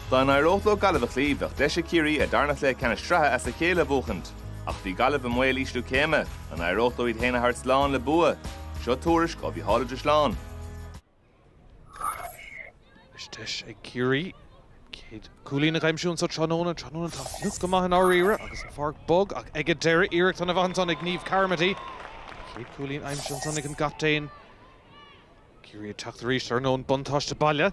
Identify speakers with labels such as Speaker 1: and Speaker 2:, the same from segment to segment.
Speaker 1: Dá n-éireodh leo Gaillimh a chloí, bheadh deis ag Ciarraí a dtarna chluiche ceannais sraithe as a chéile a bhuachaint. Ach bhí Gaillimh i mbaol ísliú céime. An éireodh leo iad féin a thabhairt slán le bua? Seo tuairisc ó Mhícheál Ó Drisleáin. Anois
Speaker 2: deis ag Ciarraí chéad cúilín a aimsiú anseo tráthnóna. Tráthnóna atá fliuch go maith i ndáiríre agus an pháirc bog. Ach ag an deireadh, iarracht an-mhaith ansan ag Niamh Carmody. Chéad cúilín aimsithe ansan ag an gcaptaen. Ciarraí ag teacht arís, ar ndóin buntáiste baile.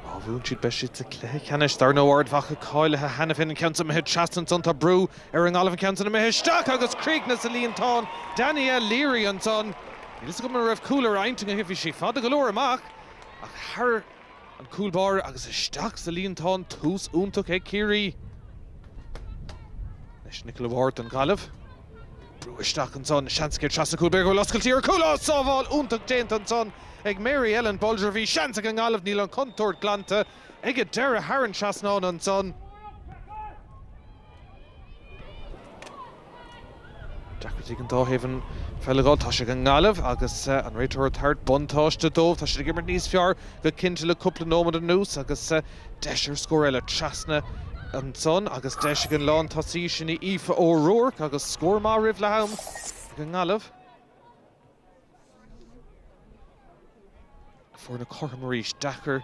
Speaker 2: Má bhuann siad beidh siad sa cluiche ceannais. Dar ndóigh Ard Mhacha cáilithe cheana féin, an ceann so imithe trasna ansan tá brú ar an nGaillimh an ceann san imithe isteach agus críochnaithe sa líontán Danielle Leary ansan. Níl fhios agam an raibh cúl ar intinn aici bhí sí fada go leor amach ach thar An cúl báire agus isteach sa líontán tús iontach ag Ciarraí anois Nicola Ward don Ghaillimh. Brú isteach ansan, is seans céad trasna cúl b'fhéidir go bhfuil oscailtí ar chúl ach sábháil iontach déanta ansan ag Mary Ellen Bolger Bhí seans ag an nGaillimh níl an chontúirt glanta ag an deireadh thar an trasnán ansan. Deacrachtaí ag an dá thaobh an pheil a fháil. Tá sé ag an nGaillimh agus an réiteoir ag tabhairt buntáiste dóibh. Tá siad ag imirt níos fearr go cinnte le cúpla nóiméad anuas agus deis ar scór eile trasna ansan agus deis ag an lántosaí sin Aoife O'Rourke agus scór maith roimh leath-am ag an nGaillimh. Foirne cothrom arís. Deacair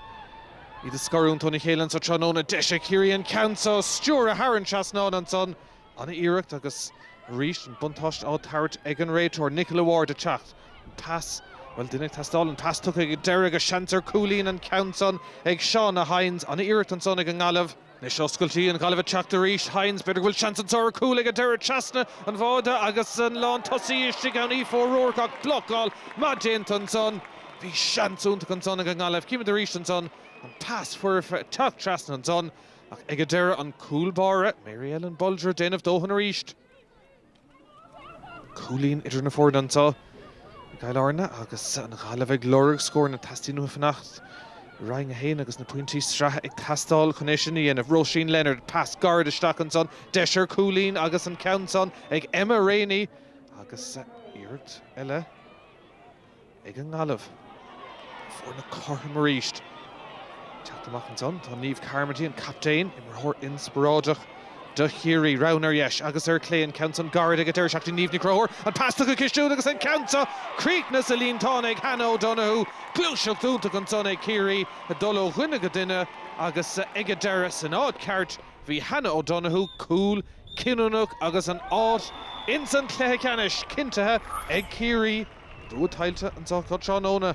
Speaker 2: iad a scarúint óna chéile anseo tráthnóna. Deis ag Ciarraí an ceann seo a stiúir thar an trasnán ansan. Ana-iarracht agus arís an buntáiste á tabhairt ag an réiteoir, Nicola Ward, ag teacht. An pas. Bhuel, duine ag teastáil. An pas tugtha ag an deireadh agus seans ar cúilín an ceann san ag Shauna Hynes. Ana-iarracht ansan ag an nGaillimh. Anois oscailtí an Ghaillimh ag teacht arís. Hynes, B'fhéidir go bhfuil seans anso ar chúl ag an deireadh trasna an bháide agus an lán tosaí istigh ann. Aoife O'Rourke, Ach blocáil maith déanta ansan. Bhí seans iontach ansan ag an nGaillimh. Chímid arís ansan an pas foirfe ag teacht trasna ansan ach ag an deireadh an cúl báire, Mary Ellen Bolger, ag déanamh dóthain arís. cúilín idir na foirne anseo i gCill Airne agus an Ghaillimh ag lorg scór nó teastaíonn uathu fanacht i Roinn 1 agus na pointí sraithe ag teastáil chun é sin a dhéanamh Róisín Leonard, pas gairid isteach ansan, deis ar chúilín agus an ceann san ag Emma Reaney agus iarracht eile. ag an nGaillimh. Foirne cothrom arís. Teacht amach ansan. Tá Niamh Carmody, an captaen, imreoir inspioráideach do Chiarraí, roghanna ar dheis agus ar chlé. An ceann san gairid ag an deireadh isteach go dtí Niamh Ní Chonchúir. An pas tugtha go cistiúil agus an ceann seo críochnaithe sa líontán ag Hannah O'Donoghue. Gluaiseacht iontach ansan ag Ciarraí ag dul ó dhuine go duine agus ag an deireadh, san áit cheart, bhí Hannah O'Donoghue. Cúl cinniúnach agus an áit insan chluiche ceannais cinntithe ag Ciarraí. Dúiche Tailte an tsochaí chun tráthnóna.